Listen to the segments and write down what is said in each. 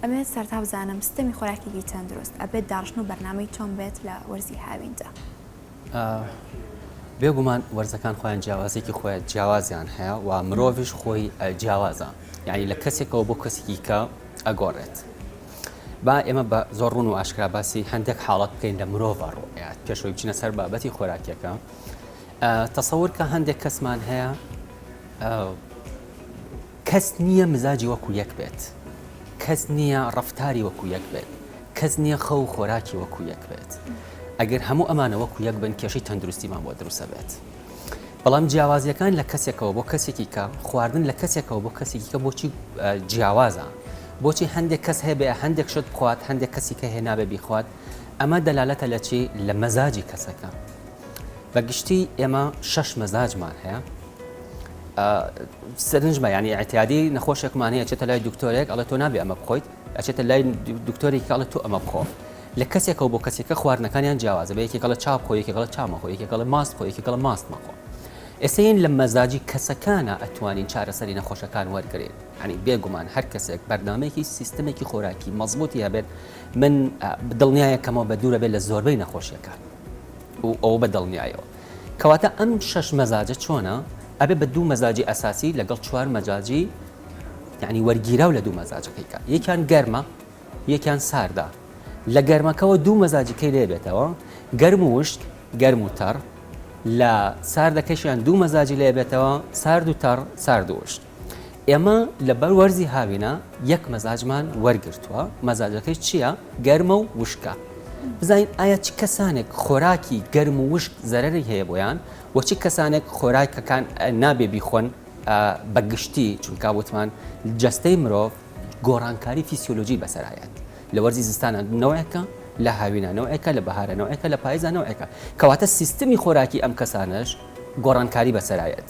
ئەمەوێت سەرەتا بزانم ستەمی خۆراکیی تەندروست ئەبێت داڕشتن و بەرنامەی چۆن بێت لە وەرزی هاویندا؟ ئا، بێگومان وەرزەکان خۆیان جیاوازیەکی خۆیان جیاوازیان هەیە و مرۆڤیش خۆی ئە جیاوازە یانی لە کەسێکەوە بۆ کەسێکی کە ئەگۆڕێت. با ئێمە بە زۆر ڕوون و ئاشکرا باسی هەندێک حاڵەت بکەین لە مرۆڤە ڕوئەت پێشەوەی بچینە سەر بابەتی خۆراکیەکە تەسەور کە هەندێک کەسمان هەیە کەس نییە مزاجی وەکو یەک بێت، کەس نییە ڕەفتاری وەکو یەک بێت، کەس نییە خەو و خۆراکی وەکو یەک بێت. ئەگەر هەموو ئەمانە وەکو یەک بن کێشەی تەندروستیمان بۆ دروست ئەبێت. بەڵام جیاوازییەکان لە کەسێکەوە بۆ کەسێکی کە، خواردن لە کەسێکەوە بۆ کەسێکی کە بۆچی جیاوازە؟ بۆچی هەندێک کەس هەبێ هەندێک شت بخوات، هەندێک کەسیکە هەیە نابێ بیخوات؟ ئەمە دەلالەتە لە چی؟ لە مەزاجی کەسەکە. بە گشتی ئێمە شەش مەزاجمان هەیە سەرنجمە یانی ئەتیادی نەخۆشێکمان هەیە چێتە لای دکتۆرێک ئەڵێ تۆ نابێ ئەمە بخۆیت ئەچێتە لای دکتۆری کاڵە تۆ ئەمە بخۆ لە کەسێکەوە بۆ کەسێکە خواردنەکانیان جیاوازە بە یەکێکڵە چاپ خۆ یەکێکڵە چامە خۆ یەکێکڵە ماست خۆ یەکێکڵە ماست مەخۆ ئێسین لە مەزاجی کەسەکانە ئەتوانین چارەسەری نەخۆشەکان وەرگێت ئەنی بێگومان هەر کەسێک بەرنمەیەکی سیستمێکی خۆراکی مەزبوتی هەبێت من دڵنیایەکەمەوە بە دوورە بێت لە زۆربەی نەخۆشیەکان و ئەوە بە دڵنیایەوە. کەواتە ئەم شەش مەزاجە چۆنە؟ ئەبێ بە دوو مەزاجی ئەساسی لەگەڵ چوار مەزاجی یعنی وەرگیراو لە دوو مەزاجەکەی کە یەکیان گەرمە یەکیان ساردە لە گەرمەکەەوە دوو مەزاجیکەی لێبێتەوە گەرم و وشک گەرم و تەڕ لە ساردەکەشیان دوو مەزاجی لێبێتەوە سارد و تەڕ سارد و وشک ئێمە لەبەر وەرزی هاوینە یەک مەزاجمان وەرگرتووە مەزاجەکەی چییە گەرمە و وشکە بزانین ئایا چ کەسانێک خۆراکی گەرم و وشک زەرری هەیە بۆیان وە چ کەسانێک خۆراکەکان نابێ بیخۆن بە گشتی چونکە وتمان جەستەی مرۆڤ گۆڕانکاری فیسیۆلۆژی بەسەرایەت لە وەرزی زستانە نەوەیەکە لە هاوینانەوەیەکە لە بەهارەنەوەیەکە لە پایزانەوەیەکە کەواتە سیستمی خۆراکی ئەم کەسانش گۆڕانکاری بەسەرایەت.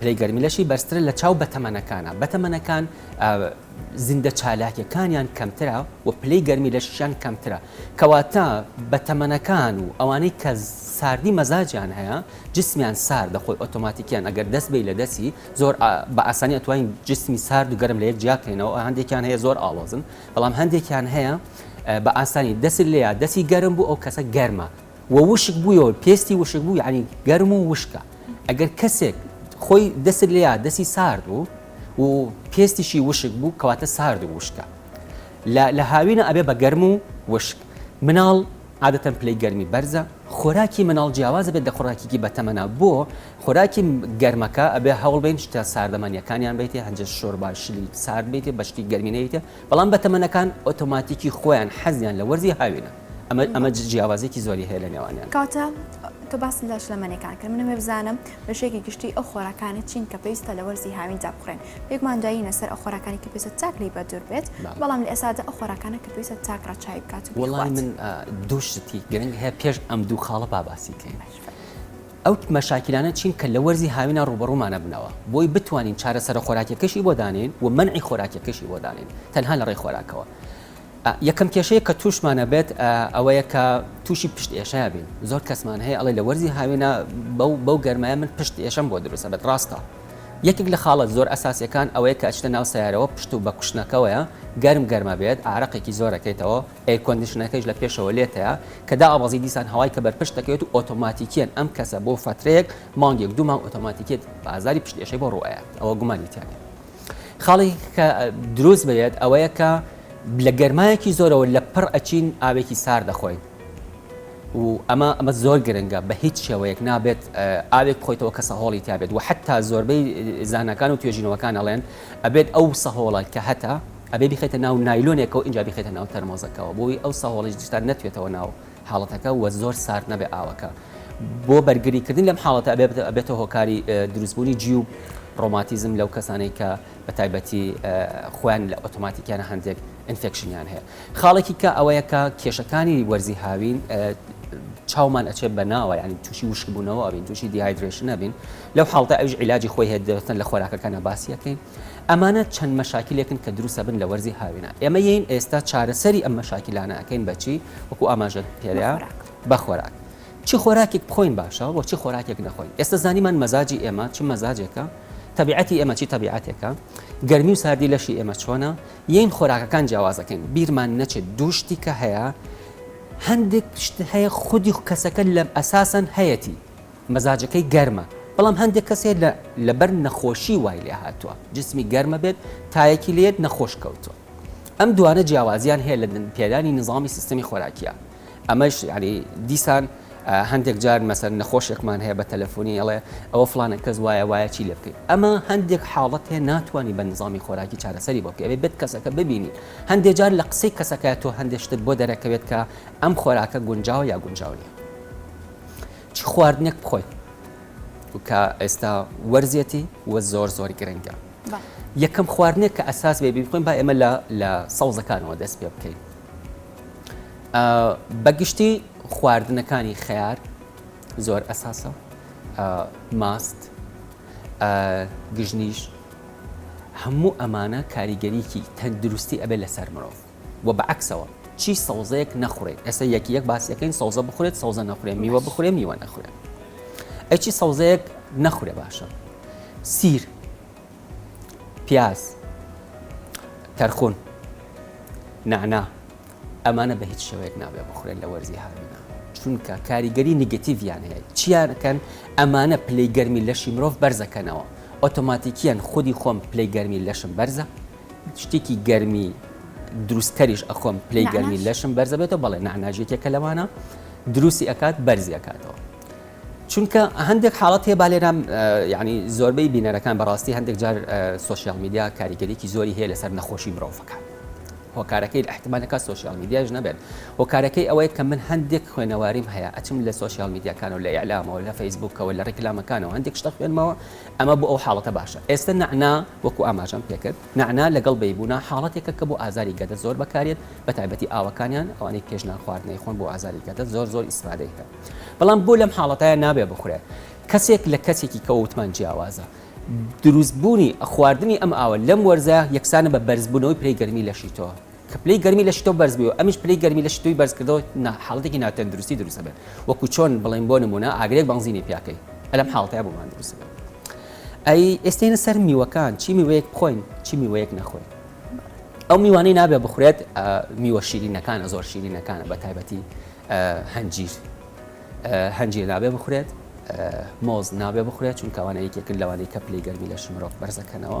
پلەی گەرمی لەشی بەرزترە لە چاو بەتەمەنەکانە بەتەمەنەکان زیندە چالاکیەکانیان کەمترە و پلەی گەرمی لەشیان کەمترە کەواتە بەتەمەنەکان و ئەوانەی کە ساردی مەزاجیان هەیە جسمیان سار دەخۆی ئۆتۆماتیکیان ئەگەر دەست بی لە دەستی زۆر بە ئاسانی ئەتوانین جسمی سارد و گەرم لە یەک جیاکەینەوە هەندێکیان هەیە زۆر ئاڵۆزن بەڵام هەندێکیان هەیە بە ئاسانی دەست لێیا دەستی گەرم بوو ئەو کەسە گەرمە و وشک بوویەوە پێستی وشک بوو یانی گەرم و وشکە ئەگەر کەسێک خۆی دەسک لێ دەسی سارد بوو و پێستیشی وشک بوو کەواتە سارد و وشکە لە هاوینە ئەبێ بە گەرم و وشک مناڵ عادەتەن پلەی گەرمی بەرزە خۆراکی مناڵ جیاوازە بێت لە خۆراکیکی بەتەمەنا بۆ خۆراکی گەرمەکە ئەبێ هەوڵ بین شتە ساردەمانیەکانیان بیتێ هەنجە شۆرباشلی سارد بیتێ بەشتی گەرمینەیتە بەڵام بەتەمەنەکان ئۆتۆماتیکی خۆیان حەزیان لە وەرزی هاوینە ئەمە ئەمە جیاوازێکی زۆری هەیە لە نێوانیان. کاتە تۆ باس لە شلەمەنیەکان کرد منەوێ بزانم بەشێکی گشتی ئەو خۆراکانی چین کە پێویستە لە وەرزی هاویندا بخورێن پێکمان دایینە سەر ئەو خۆراکانی کە پێویستە چاک لێی بەدوور بێت بەڵام لە ئێستادا ئەو خۆراکانە کە پێویستە چاک ڕەچاوی بکات و وەڵامی من دوو شتی گرنگ هەیە پێش ئەم دوو خاڵە با باسی کەین. ئەو مەشاکیلانە چین کە لە وەرزی هاوینا ڕووبەڕوومانە بنەوە، بۆی بتوانین چارەسەرە خۆراکیەکەشی بۆ دانێین و مەنعی خۆراکیەکەشی بۆ دانێین تەنها لە ڕێی خۆراکەوە. ئە یەکەم کێشەیە کە تووشمان ئەبێت ئە وەیە کە تووشی پشت ئێشە ئەبین، زۆر کەسمان هەیە ئەڵێ لە وەرزی هاوینا بەو بەو گەرمایە من پشت ئێشەم بۆ دروست ئەبێت ڕاستە؟ یەکێک لە خاڵە زۆر ئەساسیەکان ئەوەیە کە ئەچیتە ناو سەیارەوە پشت و بە کوشتنەکەوەیە گەرم گەرم ئەبێت ئارەقێکی زۆر ئەکەیتەوە، ئێرکۆندیشنەکەیش لە پێشەوە لێتەیە کە دائەبەزی دیسان هەوای کە بەرپشت دەکەوێت و ئۆتۆماتیکیەن ئەم کەسە بۆ فەترەیەک مانگێک دوو مانگ ئۆتۆماتیکیەتی ئازاری پشت ئێشەی بۆ ڕوئەیات ئەوە گومانی تیا نیە خاڵی کە دروست بێت ئەوەیە کە لە گەرمایەکی زۆرەوە لە پڕ ئەچین ئاوێکی سار دەخۆین و ئەمە ئەمە زۆر گرنگە بە هیچ شێوەیەک نابێت ئاوێک خۆیتەوە کە سەهۆڵی تابێت و حتا زۆربەی زانکان و توێژینەوەکان ئەڵێن ئەبێت ئەو سەهۆڵە کە هەتا ئەبێ بیخەیتە ناو نایلۆنێکەوە ئینجا بیخەیتە ناو تەرمۆزەکەوە بۆوەی ئەو سەهۆڵەی جلتان نەتوێتەوە ناو حاڵەتەکە و زۆر سارد نەبێ ئاوەکە بۆ بەرگری کردنی لەم حاڵەتە ئەبێ ئەبێتە هۆکاری دروست بوونی جیوب ڕۆماتیزم لەو کەسانەی کە بە تایبەتی خۆیان لە ئۆتۆماتیکیانە هەندێک ئینفێکشنیان هەیە خاڵێکی کە ئەوەیە کە کێشەکانی وەرزی هاوین چاومان ئەچێت بە ناوە ینی تووشی وشکبوونەوە ئەبین تووشی دیهایدرێشن نەبین لەو حاڵتە ئەوش عیلاجی خۆی هەیە دەستن لە خۆراکەکانە باسیەکەین ئەمانە چەند مەشاکیلێکن کە دروست ئەبن لە وەرزی هاوینا. ئێمە یەین ئێستا چارەسەری ئەم مەشاکیلانە ئەکەین بە چی؟ وەکو ئاماژەت پێرا بە خۆراک. چ خۆراکێک بخۆین باشە و چ خۆراکێک نەخۆین؟ ئێستا زانیمان مەزاجی ئێمە چ مەزاجێکە، تەبیعەتی ئێمە چی تەبیعەتێکە، گەرمی و ساردی لەشی ئێمە چۆنە، یەین خۆراکەکان جیاواز ئەکەین. بیرمان نەچێت دوو شتی کە هەیە، هەندێک شت هەیە خودی کەسەکە لە ئەساسەن هەیەتی. مەزاجەکەی گەرمە بەڵام هەندێک کەس هەیە لە لەبەر نەخۆشی وای لێ هاتووە جسمی گەرمە بێت تایەکی لێت نەخۆش کەوتووە ئەم دوانە جیاوازیان هەیە لە پێدانی نظامی سیستمی خۆراکیە ئەمەش یعنی دیسان هەندێک جار مەسەر نەخۆشێکمان هەیە بە تەلەفۆنی ئەڵێ ئەوە فلانە کەس وایە وایە چی لێ بکەیت ئەمە هەندێک حاڵەت هەیە ناتوانانی بە نظامی خۆراکی چارەسەری بۆ پێوێت بێت کەسەکە ببینی هەندێک جار لە قسەی کەسەکە تۆ هەندێک شتت بۆ دەرەکەوێت کە ئەم خۆراکە گونجاوە یا گونجاو نیە چ خواردنێک بخۆین کە ئێستا وەرزێتی وە زۆر زۆر گرنگە یەکەم خواردنێک کە ئەساس بێ بخۆین با ئێمە لە لە سەوزەکانەوە دەست پێ بکەین بەگشتی خواردنەکانی خیار زۆر ئەساسە ماست گژنیش هەموو ئەمانە کاریگەریکی تەندروستی ئەبێ لەسەر مرۆڤ وە بە عەکسەوە چی سەوزەیەک نەخورێ ئێستا یەکی یەک باسیەکەین سەوزە بخورێت سەوزە نەخورێ میوە بخورێ میوە نەخورێ ئەچی سەوزەیەک نەخورێ باشە سیر پیاز تەرخون نعنا ئەمانە بە هیچ شێوەیەک نابێ بخورێت لە وەرزی هاوینا چونکە کاریگەری نگەتیڤیان هەیە چیانکەن ئەمانە پلەی گەرمی لەشی مرۆڤ بەرزەکەنەوە ئۆتۆماتیکیان خودی خۆم پلەی گەرمی لەشم بەرزە شتێکی گەرمی دروست کەریش ئەخۆم پلەی گەرمی لەشم بەرزەبێتەوە بەڵێ نعناژێکێکە لەوانە دروستی ئەکات بەرزی ئەکاتەوە چونکە هەندێک حاڵەت هەیە بالێرام ینی زۆربەی بینەرەکان بەڕاستی هەندێک جار سوسیال میدیا کاریگەریکی زۆری هەیە لەسەر نەخۆشی مرۆڤەکان هۆکارەکەی احتمالەکە سوسیال میدیاش نەبێت هۆکارەکەی ئەوەیە کە من هەندێک خوێنەواریم هەیە ئەچم لە سوسیال میدیاکان و لە ئەلامەوە لە فەیسبوکەوە لە ڕیکلامەکانەوە هەندێک شتە خوێنمەوە ئەمە بۆ ئەو حاڵەتە باشە. ئێستە نەعنا وەکو ئاماژەم پێکرد نەعنا لەگەڵ بەیبونا حاڵەتێکە کە بۆ ئازاری گەدە زۆر بەکاریەت بەتایبەتی ئاوەکانیان ئەوانەی پێش نان خواردن ئەیخۆن بۆ ئازاری گەدە زۆر زۆر ئیستفادەی هەیە بەڵام بۆ لەم حاڵەتایە نابێ بخورێ کەسێک لە کەسێکی کە وتمان جیاوازە دروست بوونی خواردنی ئەم ئاوە لەم وەرزە یەکسانە بە بەرزبوونەوەی پلەی گەرمی لەشی تۆ. کە پلەی گەرمی لەشی تۆ بەرز بووی و ئەمیش پلەی گەرمی لەشی تۆی بەرز کردەوە نا حاڵەتێکی ناتەندروستی دروست ئەبێت وەکو چۆن بڵێین بۆ نموونە ئاگرێک بەنزینی پیا کەی ئەلەم حاڵەتەیا بۆمان دروست ئەبێت ئەی ئێستێنە سەر میوەکان چی میوەیەک بخۆین چی میوەیەک نەخۆین ئەو میوانەی نابێ بخورێت میوە شیرینەکانە زۆر شیرینەکانە بە تایبەتی هەنجیر هەنجیر نابێ بخورێت مۆز نابێ بخورێت چون کەوانە یەکێکن لەوانەی کە پلی گەرمی لە شمرۆڤ بەرزەکەنەوە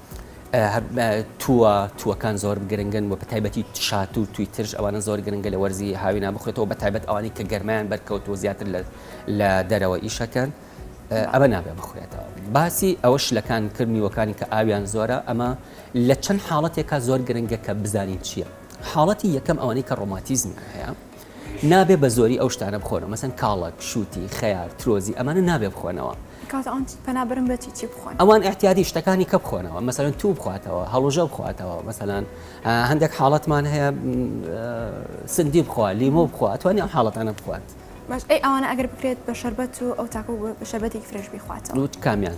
تووە، تووەکان زۆر گرنگن و بەتایبەتی شاتوو و تووی ترش، ئەوانە زۆر گرنگە لە وەرزی هاوینا بخورێتەوە، بەتایبەت ئەوانەی کە گەرمایان بەرکەوتووە زیاتر لە دەرەوە ئیش ئەکەن، ئەمە نابێت بخورێتەوە. باسی ئەوە شلەکان کرد میوەکانی کە ئاویان زۆرە، ئەمە لە چەند حاڵەتێکا زۆر گرنگە کە بزانین چییە، حاڵەتی یەکەم ئەوانەی کە ڕۆماتیزمیان هەیە، نابێ بە زۆری ئەو شتانە بخۆنەوە مەسەن کاڵەک، شووتی، خەیار، ترۆزی ئەمانە نابێ بخۆنەوە. کاکە ئەوان پەنا بەرن بە چی چی بخۆن؟ ئەوان ئیعتیادی شتەکانی کە بخۆنەوە مەسەلەن توو بخواتەوە هەڵوژە بخواتەوە مەسەلەن هەندێک حاڵەتمان هەیە سندی بخوا لیمۆ بخوا ئەتوانی ئەم حاڵەتانە بخوات. باش ئەی ئەوانە ئەگەر بکرێت بە شەربەت و ئەو تاکو بە شەربەتێکی فرێش بیخواتەوە. کامیان؟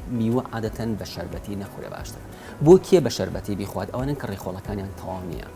میوە عادەتەن بە شەربەتی نەخورێ باشترە. بۆ کێ بە شەربەتی بیخوات؟ ئەوانەن کە ڕیخۆڵەکانیان تەواو نییە.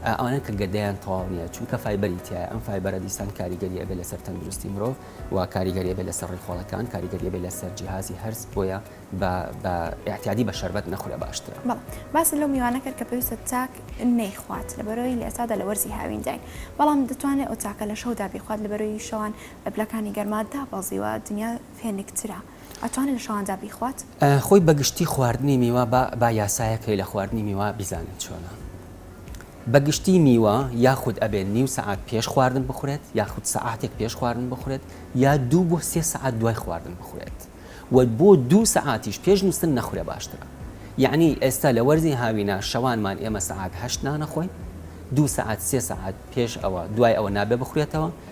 ئەوانەن کە گەدەیان تەواو نییە، چونکە فایبەری تیایە، ئەم فایبەرە دیسان کاریگەری ئەبێ لەسەر تەندروستی مرۆڤ و کاریگەری ئەبێ لەسەر ڕیخۆڵەکان، کاریگەری ئەبێ لەسەر جیهازی هەرس، بۆیە بە بە ئیعتیادی بە شەربەت نەخورێ باشترە. بەڵێ باست لەو میوانە کرد کە پێویستە تاک نەیخوات لەبەرئەوەی لە ئێستادا لە وەرزی هاوینداین، بەڵام دەتوانێ ئەو تاکە لە شەودا بیخوات لەبەرئەوەی شەوان پلەکانی گەرما دابەزیوە دنیا فێنکترە. ئەتوانێ لە شەواندا بیخوات؟ خۆی بەگشتی خواردنی میوە با با یاسایەک هەیە لە خواردنی میوە بیزانن چۆنە بەگشتی میوە یاخود ئەبێ نیو سەعات پێش خواردن بخورێت یاخود سەعاتێک پێش خواردن بخورێت یا دوو بۆ سێ سەعات دوای خواردن بخورێت و بۆ دوو سەعاتیش پێش نوستن نەخورێ باشترە یەعنی ئێستا لە وەرزی هاوینا شەوانمان ئێمە سەعات هەشت نانەخۆین دوو سەعات سێ سەعات پێش ئەوە دوای ئەوە نابێ بخورێتەوە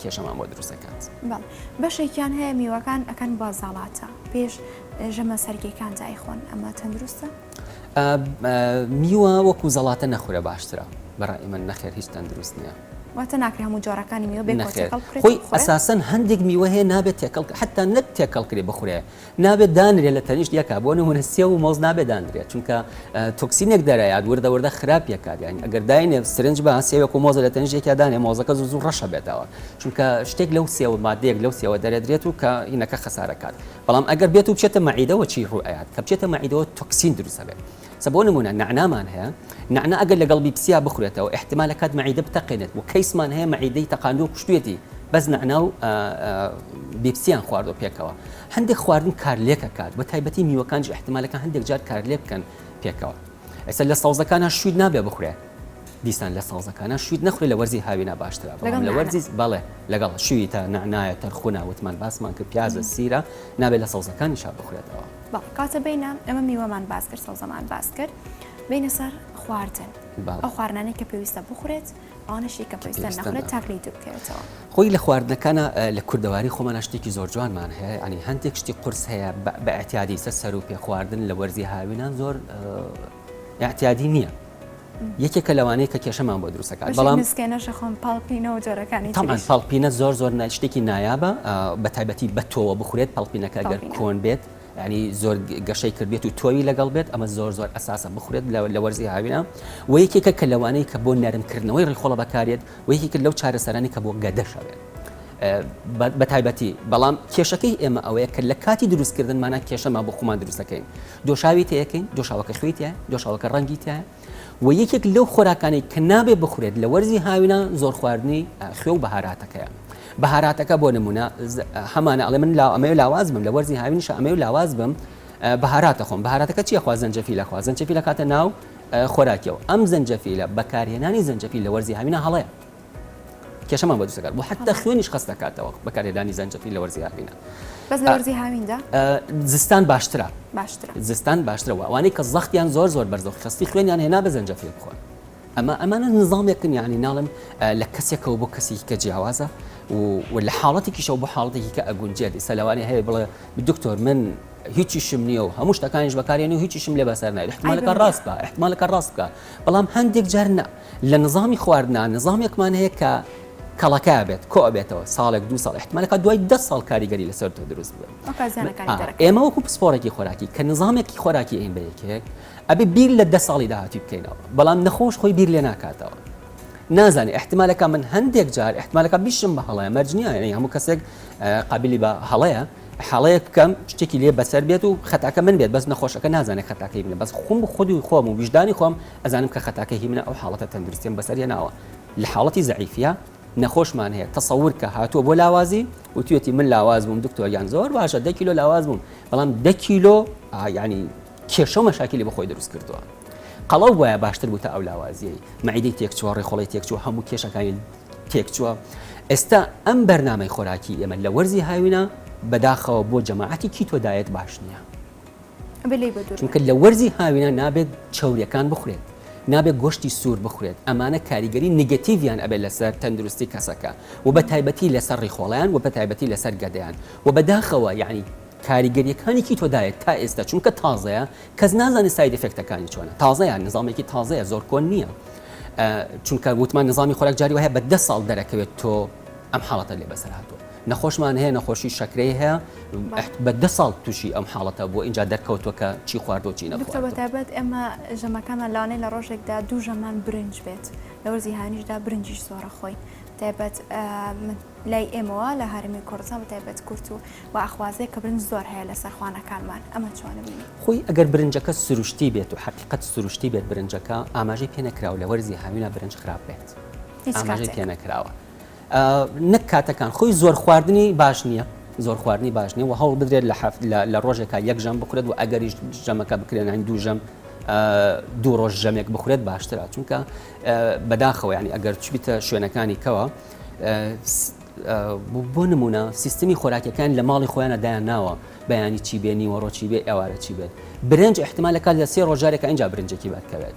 کێشەمان بۆ دروست دەکات. بەڵێ بەشێکیان هەیە میوەکان ئەکەن بە زەڵاتە پێش ژەمە سەرگیەکان جا ئەیخۆن ئەمە تەندروستە؟ میوە وەکو زەڵاتە نەخورە باشترە بەڕای من نەخێر هیچ تەندروست نییە. واتە ناکرێ هەموو جۆرەکانی میوە بێت نەخێر. تێکەڵ بکرێت. خۆی بخورێت؟ ئەساسەن هەندێک میوە هەیە نابێت تێکەڵ حتا نەت تێکەڵ کرێ بخورێ نابێت دانرێت لە تەنیشت یەکا بۆ نمونە سێو و مۆز نابێت دانرێت چونکە تۆکسینێک دەرەیات وردە وردە خراپ یەکات یانی ئەگەر داینێ سرنج بە سێوێک و مۆزە لە تەنیشت یەکیا دانێ مۆزەکە زوو زوو ڕەشە بێتەوە چونکە شتێک لەو سێوە مادەیەک لەو سێوە دەرەدرێت و کە هینەکە خەسارەکات بەڵام ئەگەر بێت و بچێتە مەعیدەوە چی ڕوو ئەیات کە بچێتە مەعیدەوە تۆکسین دروست ئەبێت سە بۆ نمونە نەعنامان هەیە نەعنا ئەگەر لەگەڵ بیپسیا بخورێتەوە ئیحتیمال ئەکات مەعیدە بتەقێنێت و کەیسمان هەیە مەعیدەی تەقاندوو و کوشتوێتی بەس نەعنا و بیپسیان خواردوە پێکەوە هەندێک خواردن کارلێک ئەکات بە تایبەتی میوەکانیش ئیحتیمالەکە هەندێک جار کارلێک بکەن پێکەوە ئێستا لە سەوزەکانە شوویت نابێ بخورێ دیسان لە سەوزەکانە شوویت نەخورێ لە وەرزی هاوینا باشترە بەڵام لە لەگەڵ نەعنا. وەرزی بەڵێ لەگەڵ شوویتە نەعنایە تەرخونا وتمان باسمان کرد پیازە سیرە نابێت لە سەوزەکانیشا بخورێتەوە بەڵێ کاتە بینە ئەمە میوەمان باس کرد سەوزەمان باس کرد بینە سەر خواردن ئەو خواردنانەی کە پێویستە بخورێت ئەوانەشی کە پێویستە نەخورێت تاکلی دوور بکەوێتەوە خۆی لە خواردنەکانە لە کوردەواری خۆمانە شتێکی زۆر جوانمان هەیە ئەنی هەندێک شتی قرس هەیە بە ئەتیادی سە سەر و پێ خواردن لە وەرزی هاوینان زۆر ئەتیادی نییە یەکێکە لەوانەی کە کێشەمان بۆ دروست دەکات بەڵام تەمان پاڵپینە زۆر زۆر شتێکی نایابە بە تایبەتی بە تۆوە بخورێت پاڵپینەکە گەر کۆن بێت ینی زۆر گەشەی کردێت و تۆوی لەگەڵ بێت ئەمە زۆر زۆر ئەساسە بخورێت لە وەرزی هاوینە و یەکێکە کە لەوانەیە کە بۆ نەرمکردنەوەی ڕیخۆڵە بەکارێت و یەکێکە لەو چارەسەرانی کە بۆ گەدەشەوێت بەتایبەتی، بەڵام کێشەکەی ئێمە ئەوەیە کە لە کاتی دروستکردن مانا کێشەمان بۆ خۆمان دروست دەکەین، دۆشاوی تێیەکەین، دۆشاوەکە خوێی تیایە، دۆشاوەکە ڕەنگی تیایە و یەکێک لەو خۆراکانەی کە نابێ بخورێت لە وەرزی هاوینان زۆر خواردنی خوێ و بەهاراتەکەیە، بەهاراتەکە بۆ نموونە هەمانە ئەڵێ من ئەمەوێ لاواز بم لە وەرزی هاوینیشا ئەمەوێ لاواز بم بەهارات ئەخۆم، بەهاراتەکە چی ئەخوا زەنجەفیل ئەخوا، زەنجەفیل ئەکاتە ناو خۆراکیەوە، ئەم زەنجەفیلە بەکارهێنانی زەنجەفیل لە وەرزی هاوینان هەڵەیە. کێشەمان بە جوسەکار بۆ حتا خوێنیش خەست دەکاتەوە بەکارهێدانی زەنجەفیل لە وەرزی هاویندا بەس لە وەرزی هاویندا زستان باشترە باشترە زستان باشترە وانەی کە زەختیان زۆر زۆر بەرزەوە خستی خوێنیان هێنا بە زەنجەفیل بخۆن ئەمە ئەمانە نظامێکن یعنی ناڵم لە کەسێکەوە بۆ کەسی کە جیاوازە و لە حاڵەتێکیشەوە بۆ حاڵەتێکی کە ئەگونجێتی سەلوانی هەیە بڵێ دکتۆر من هیچی شم نییە و هەموو شتەکانیش بەکارێن و هیچی شم لێ بەسەر نایحمالەکە ڕاست بە احتمالەکە ڕاست بکە بەڵام هەندێک جار نە لە نزامی خواردنا نزامێکمان هەیە کە کەڵەکە ئەبێت کۆ ئەبێتەوە ساڵێک دوو ساڵ احتمالی کە دوای دە ساڵ کاریگەری لەسەر تۆ دروست بێت ئەوکات زیانەکانی آه، دەرەکەوێت. ئێمە وەکو پسپۆڕێکی خۆراکی کە نظامێکی خۆراکی ئەین بە یەکێک ئەبێ بیر لە دە ساڵی داهاتوی بکەینەوە بەڵام نەخۆش خۆی بیر لێ ناکاتەوە نازانی احتمالەکە من هەندێک جار احتمالەکە بیشم بە هەڵەیە مەرجنیە یعنی هەموو کەسێک آه، قابلی بە هەڵەیە حاڵەیە بکەم شتێکی لێ بەسەر بێت و خەتاکە من بێت بەس نەخۆشەکە نازانێت خەتاکەی منە بەس خۆم خودی خۆم و ویژدانی خۆم ئەزانم کە خەتاکەی هی منە ئەو حاڵەتە تەندروستیم بەسەر هێناوە لە حاڵەتی زەعیفیە نەخۆشمان هەیە تەسەور کە هاتووە بۆ لاوازی وتوێتی من لاواز بووم دکتۆر یان زۆر باشە دە کیلۆ لاواز بووم بەڵام دە کیلۆ ینی کێشە و مەشاکیلی بەخۆی دروست کردووە قەڵەو وایە باشتر بوو تا ئەو لاوازیەی مەعیدەی تێکچووە ڕێخۆڵی تێکچووە هەموو کێشەکانی تێکچووە ئێستا ئەم بەرنمەی خۆراکی ئێمە لە وەرزی هاوینە بەداخەوە بۆ جەماعەتی کی تۆدایەت باش نییە بلی بە دوور چونکە لە وەرزی هاوینا نابێت چەوریەکان بخورێت نابێت گۆشتی سوور بخورێت ئەمانە کاریگەری نیگەتیڤیان ئەبێت لەسەر تەندروستی کەسەکە و بە تایبەتی لەسەر ڕیخۆڵیان و بە تایبەتی لەسەر گەدەیان و بەداخەوە یعنی کاریگەریەکانی کیتۆدایت تا ئێستا چونکە تازەیە کەس نازانێت ساید ئفێکتەکانی چۆنە تازەیە نظامێکی تازەیە زۆر کۆن نییە چونکە وتمان نظامی خۆراک جاری وهەیە بە ده ساڵ دەرەکەوێت تۆ ئەم حاڵەتە لێ بەسەر هاتووە نەخۆشمان هەیە نەخۆشی شەکرەی هەیە بە دە ساڵ تووشی ئەم حاڵەتە بۆ اینجا دەرکەوتوە کە چی خواردۆ چی نەبێت ئەمە ژەمەکانمان لاانەی لە ڕۆژێکدا دوو ژەمان برنج بێت لە وەرزی هاانیشدا برنجیش زۆرە خۆین تایبەت لای ئێمەوە لە هەرمی کوردستان بە تایبەت کورت و و ئەخوازێک کە برنج زۆر هەیە لە سەرخوانەکانمان ئەمە چۆنە بینی خۆی ئەگەر برنجەکە سروشتی بێت و حقیقت سروشتی بێت برنجەکە ئاماژەی پێ نەکراوە لە وەرزی هاوینا برنج خراپ بێت ئاماژەی پێ نەکراوە. نەک کاتەکان خۆی زۆر خواردنی باش نییە زۆر خواردنی باش نیە و هەوڵ بدرێت لە هەفت لە ڕۆژێکا یەک ژەم بخورێت و ئەگەریش ژەمەکە بکرێنین دوو ژەم دوو ڕۆژ ژەمێک بخورێت باشترە چونکە بەداخەوە ینی ئەگەر چبیتە شوێنەکانی کەوە بۆ نمونە سیستمی خۆراکەکان لە ماڵی خۆیانە دایان ناوە بەیانی چی بێنی وەڕۆچی بێ ئەوارە چی بێت برنج احتمالەکە لە سێ ڕۆژارێکە اینجا برنجێکی بەرکەوێت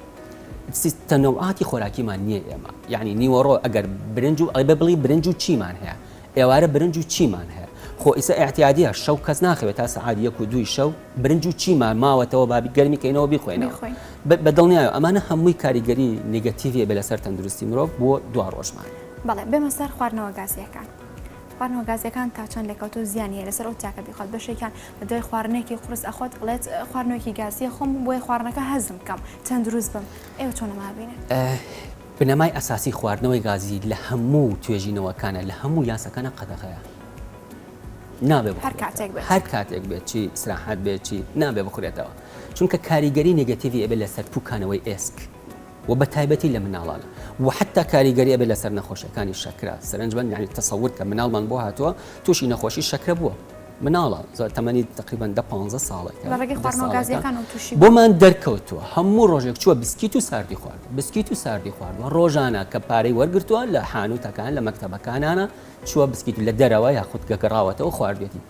تەنەوعاتی خۆراکیمان نییە ئێمە یعنی نیوەڕۆ ئەگەر برنج و ئەیبە بڵی برنج و چیمان هەیە ئێوارە برنج و چیمان هەیە خۆ ئیسە احتیادیە شەو کەس ناخەوێت تا سعاد یەک و دوی شەو برنج و چیمان ماوەتەوە بابی گەرمی کەینەوە بیخۆینەوە بە دڵنیایە ئەمانە هەمووی کاریگەری نگەتیڤە بە لەسەر تەندروستی مرۆڤ بۆ دو ڕۆژمان بەڵێ بێمە سەر خواردنەوە گازیەکان خواردنەوە گازیەکان تا چەند لەکەوتۆ زیانە لەسەر ئەو تاکە بیخوات بەشێکیان دوای خواردنێکی قورس ئەخۆت ئەڵێت خواردنەوەکی گازی ئەخۆم بۆیە خواردنەکە هەزم بکەم تەندروست بم ئێوە چۆن ئەمە ئەبینن؟ بنەمای ئەساسی خواردنەوەی گازی لە هەموو توێژینەوەکانە لە هەموو یاساکانە قەدەغەیە نابێ بخورێتەوە. هەر کاتێک بێت. هەر کاتێک بێت چی ئیسراحەت بێت چی نابێ بخورێتەوە چونکە کاریگەری نێگەتیڤی ئەبێت لەسەر پووکانەوەی ئێسک و بە تایبەتی لە مناڵانە و حتا کاریگەری ئەبێت لەسەر نەخۆشیەکانی شەکرە سەرنجبەن یعنی تەسەور کە مناڵمان بۆ هاتووە تووشی نەخۆشی شەکرە بووە مناڵە تەمەنی تەقریبەن دە پانزە ساڵێکە لەڕێگەی خواردنەوە گازیەکان ئەو توشی بوو بۆمان دەرکەوتووە هەموو ڕۆژێک چووە بسکیت و ساردی خوارد بسکیت و ساردی خواردوە ڕۆژانە کە پارەی وەرگتووە لە حانوتەکان لە مەکتتەبەکانانە چووە بسکیت لە دەرەوە یاخود گەگەڕاوەتەوە خواردێتی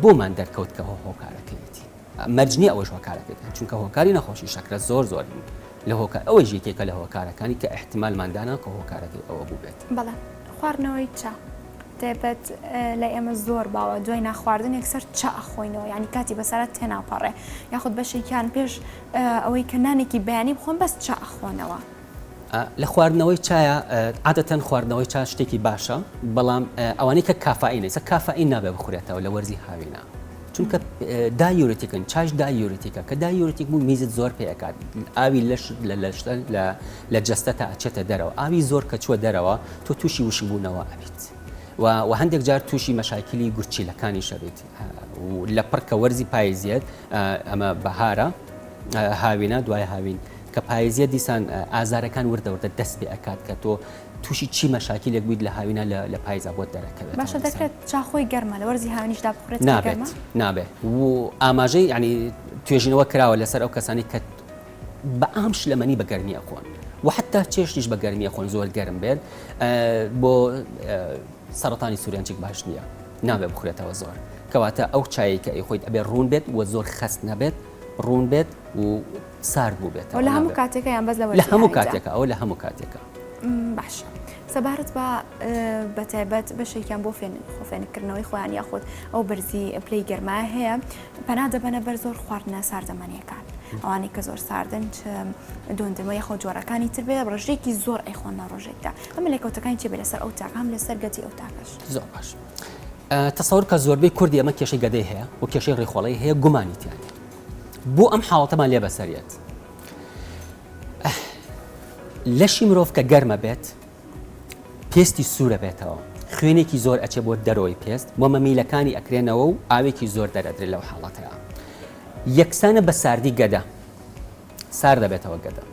بۆمان دەرکەوت کە هۆکارەکەیەتی. مەرج نیە ئەوەش هۆکارە پێ بکەن چونکە هۆکاری نەخۆشی شەکرە زۆر زۆرن لە هۆکار ئەوەش یەکێکە لە هۆکارەکانی کە ئیحتیمالمان دانا کە هۆکارەکەی ئەوە بووبێت. بەڵێ خواردنەوەی چا تایبەت لای ئێمە زۆر باوە دوای نانخواردن یەکسەر چا ئەخۆینەوە یانی کاتی بەسەرا تێناپەڕێ یاخود بەشێکیان پێش ئەوەی کە نانێکی بەیانی بخۆن بەس چا ئەخۆنەوە. لە خواردنەوەی چایا عادەتەن خواردنەوەی چا شتێکی باشە بەڵام ئەوانەی کە کافائینە چە کافائین نابێ بخورێتەوە لە وەرزی هاوینە چونکە دایورتیکن چاش دایورتیکە کە دایورتیک بوو میزت زۆر پێکات ئاوی لەش لە لەشتە لە جەستە تا ئەچێتە دەرەوە ئاوی زۆر کە چووە دەرەوە تۆ تووشی وشبوونەوە ئەبیت و هەندێک جار تووشی مەشاکیلی گورچیلەکانی شەبیت لە پڕکە وەرزی پایزیێت ئەمە بەهارە هاوینە دوای هاوین کە پایزیە دیسان ئازارەکان وردە وردە دەست پێ ئەکات کە تۆ تووشی چی مەشاکیلێک بوویت لە هاوینا لە پایزا بۆت دەرەکەوێت باشە دەکرێت چا خۆی گەرمە لە وەرزی هاوینیشدا بخورێت نابێت نابێت و ئاماژەی ینی توێژینەوە کراوە لەسەر ئەو کەسانی کە بە ئام شلەمەنی بە گەرمی ئەخۆن و حتا چێشتیش بە گەرمی خۆن زۆر گەرم بێت بۆ سەرەتانی سوورێنچێک باش نییە نابێ بخورێتەوە زۆر کەواتە ئەو چایەکە ئەی خۆیت ئەبێ ڕوون بێت و زۆر خەست نەبێت ڕوون بێت و سارد بووبێتەوە لە هەموو کاتێکە یان بەس لە هەموو کاتێکە ئەوە لە هەموو کاتێکە باشە. سەبارەت بە بەتایبەت بەشێکیان بۆ فێن خۆفێنکردنەوەی خۆیان یاخود ئەو بەرزی پلی گەرما هەیە پەنا دەبەنە بەر زۆر خواردنە ساردەمەنیەکان ئەوانەی کە زۆر ساردن چ دۆندرمە یخۆ جۆرەکانی تر بێ ڕژێکی زۆر ئەیخۆن لە ڕۆژێکدا ئەمە لێکەوتەکانی چێ لەسەر ئەو تاقام لەسەر گەتی ئەو تاکەش زۆر باش. تەسەور کە زۆربەی کوردی ئەمە کێشەی گەدەی هەیە و کێشەی ڕێخۆڵی هەیە گومانی تیاە بۆ ئەم حاڵەتەمان لێ بەسەر یەت لەشی مرۆڤ کە گەرمە بێت پێستی سوورە بێتەوە خوێنێکی زۆر ئەچێ بۆ دەرەوەی پێست بۆ مەمیلەکانی ئەکرێنەوە و ئاوێکی زۆر دەرەدرێ لەو حاڵەتەیە یەکسانە بە ساردی گەدە سار دەبێتەوە گەدە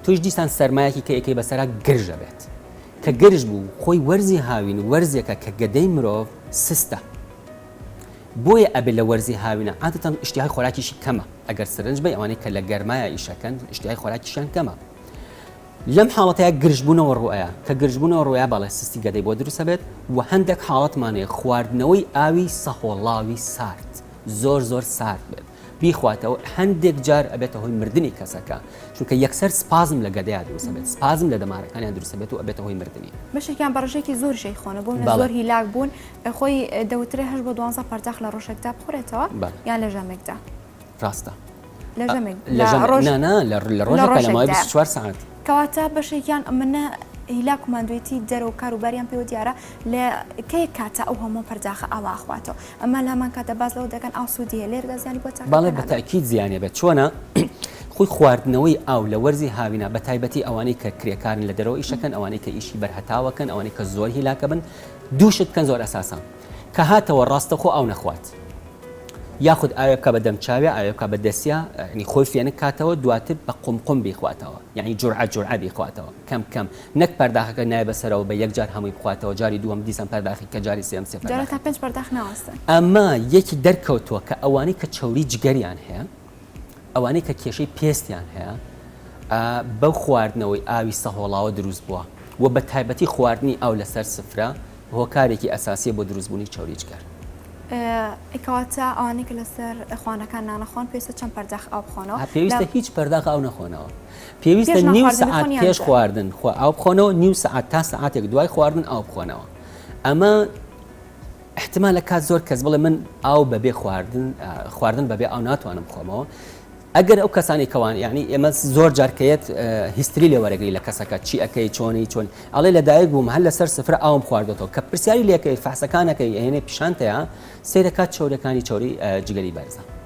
توش دیسان سەرمایەکی کە یەکەی بەسەرا گرژە بێت کە گرژ بوو خۆی وەرزی هاوین و وەرزێکە کە گەدەی مرۆڤ سستە بۆیە ئەبێت لە وەرزی هاوینە عادەتەن ئیشتیهای خۆراکیشی کەمە ئەگەر سرنج بەی ئەوانەی کە لە گەرمایە ئیشەکەن ئیشتیهای خۆراکیشیان کەمە لەم حاڵەتەیە گرژبوونەوە ڕوئەیە کە گرژبوونەوە ڕوئەیە بەڵێ سستی گەدەی بۆ دروست ئەبێت وە هەندێک حاڵەتمان هەیە خواردنەوەی ئاوی سەهۆڵاوی سارد زۆر زۆر سارد بێت بیخواتەوە هەندێک جار ئەبێتە هۆی مردنی کەسەکە چونکە یەکسەر سپازم لە گەدەیا دروستبێت سپازم لە دەمارەکانیان دروستبێت و ئەبێتە هۆی مردنی بەشێکیان بەڕژێکی زۆر شەی خۆنە بۆ زۆر هیلاک بوون خۆی دەوترێ هەش بۆ دوانزە پەرداخ لە ڕۆژێکدا بخورێتەوە یان لە ژەمێکدا ڕاستە لە ژەمێک لە ڕۆژ لە ڕۆژ چوار ساعت کەواتە بەشێکیان ئەمنە هیلاک و مادوێتی دەرەوە کاروباریان پێوە دیارە لە کەی کاتە ئەو هەموو پەرداخە ئاواخواتەوە ئەمە لامان کاتە باس لەوە دەکەن ئاو سوودی هەیە لێرەدا زیانی بۆ چاکەکان بەڵێ بە نابێت. تەئکید زیانی هەبێت چۆنە خۆی خواردنەوەی ئاو لە وەرزی هاوینا بە تایبەتی ئەوانەی کە کرێکارن لە دەرەوە ئیشەکەن ئەوانەی کە ئیشی بەر هەتاوەکەن ئەوانەی کە زۆر هیلاکە بن دوو شت بکەن زۆر ئەساسە کە هاتەوە ڕاستەخۆ ئاو نەخوات یاخود ئاوێ بکە بە دەم چاوێ ئاوێ بکە بە دەسیا ینی خۆی فێنک کاتەوە دواتر بە قومقوم بیخواتەوە یانی جورعە جورعە بیخواتەوە کەم کەم نەک پەرداخەکە نایە بەسەرەوە بە یەک جار هەمووی بخواتەوە جاری دووەم دیسان پەرداخی کە جاری سێیەم سێ جارە تا پەرداخەکە پێنج پەرداخ ناوەستن. ئەمە یەکی دەرکەوتووە کە ئەوانەی کە چەوری جگەریان هەیە ئەوانەی کە کێشەی پێستیان هەیە ئا بەو خواردنەوەی ئاوی سەهۆڵاوە دروست بووە وە بە تایبەتی خواردنی ئاو لەسەر سفرە هۆکارێکی ئەساسیە بۆ دروست بوونی چەوری جگەر. ئەی کەواتە ئەوانەی کە لەسەر خوانەکان نانەخۆن پێویستە چەند پەرداخ ئاو بخۆنەوە؟ پێویستە هیچ پەرداخ ئاو نەخۆنەوە. پێویستە نیو سەعات پێش خواردن خۆ ئاو بخۆنەوە نیو سەعات تا سەعاتێک دوای خواردن ئاو بخۆنەوە ئەمە احتما لە کات زۆر کەس بڵێ من ئاو بەبێ خواردن خواردن بەبێ ئاو ناتوانم بخۆمەوە ئەگەر ئەو کەسانی کەوان یعنی ئێمە زۆر جارکەیەت هیستری لێ وەرەگری لە کەسەکە چی ئەەکەی چۆنی چۆن ئەڵێ لەدایک بووم هەر لەسەر سفر ئاوم خواردەوە کە پرسیاری لەکەی فەحسەکانەکەی ئەێنێ پیشانتەیە سیرەکات چۆرەکانی چۆری جگەری بەرزە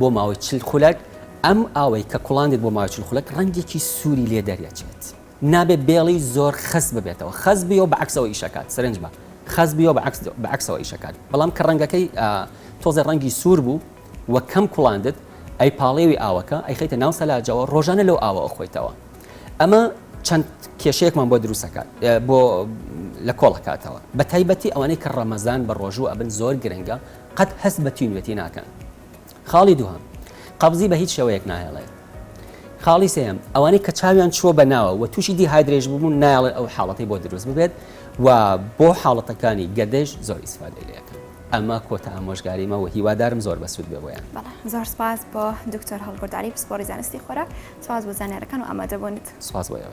بۆ ماوەی چل خولەک، ئەم ئاوەی کە کوڵاندیت بۆ ماوەی چل خولەک ڕەنگێکی سووری لێ دەریەچێت. نابێت بێڵی زۆر خەست ببێتەوە، خەست بیەوە بە عەکسەوە ئیشەکات، سرنج بە، خەست بیەوە بە عەکس بە عەکسەوە ئیشەکات، بەڵام کە ڕەنگەکەی تۆزێ ڕەنگی سوور بوو و کەم کوڵاندت، ئەیپاڵێوی ئاوەکە، ئەیخەیتە ناو سەلاجەوە، ڕۆژانە لەو ئاوە ئەخۆیتەوە. ئەمە چەند کێشەیەکمان بۆ دروست ئەکات، بۆ لە کۆڵ ئەکاتەوە، بە تایبەتی ئەوانەی کە ڕەمەزان بە ڕۆژوو ئەبن زۆر گرنگە، قەت هەست بە تینوێتی ناکەن. خاڵی دووهەم، قەبزی بە هیچ شێوەیەک ناهێڵێت. خاڵی سێیەم، ئەوانەی کە چاویان چووە بە ناوە و تووشی دیهایدرەیش ببوون نایەڵێت ئەو حاڵەتەی بۆ دروست ببێت و بۆ حاڵەتەکانی گەدەیش زۆر ئیسفادەی لێ ئەکەن. ئەمە کۆتا ئامۆژگاریمە و هیوادارم زۆر بەسوود بێ بۆیان. بەڵێ زۆر سپاس بۆ دکتۆر هەڵکورد عەلی پسپۆڕی زانستی خۆراک، سپاس بۆ زانیارەکان و ئامادەبوونت. سپاس بۆ ئێوەش.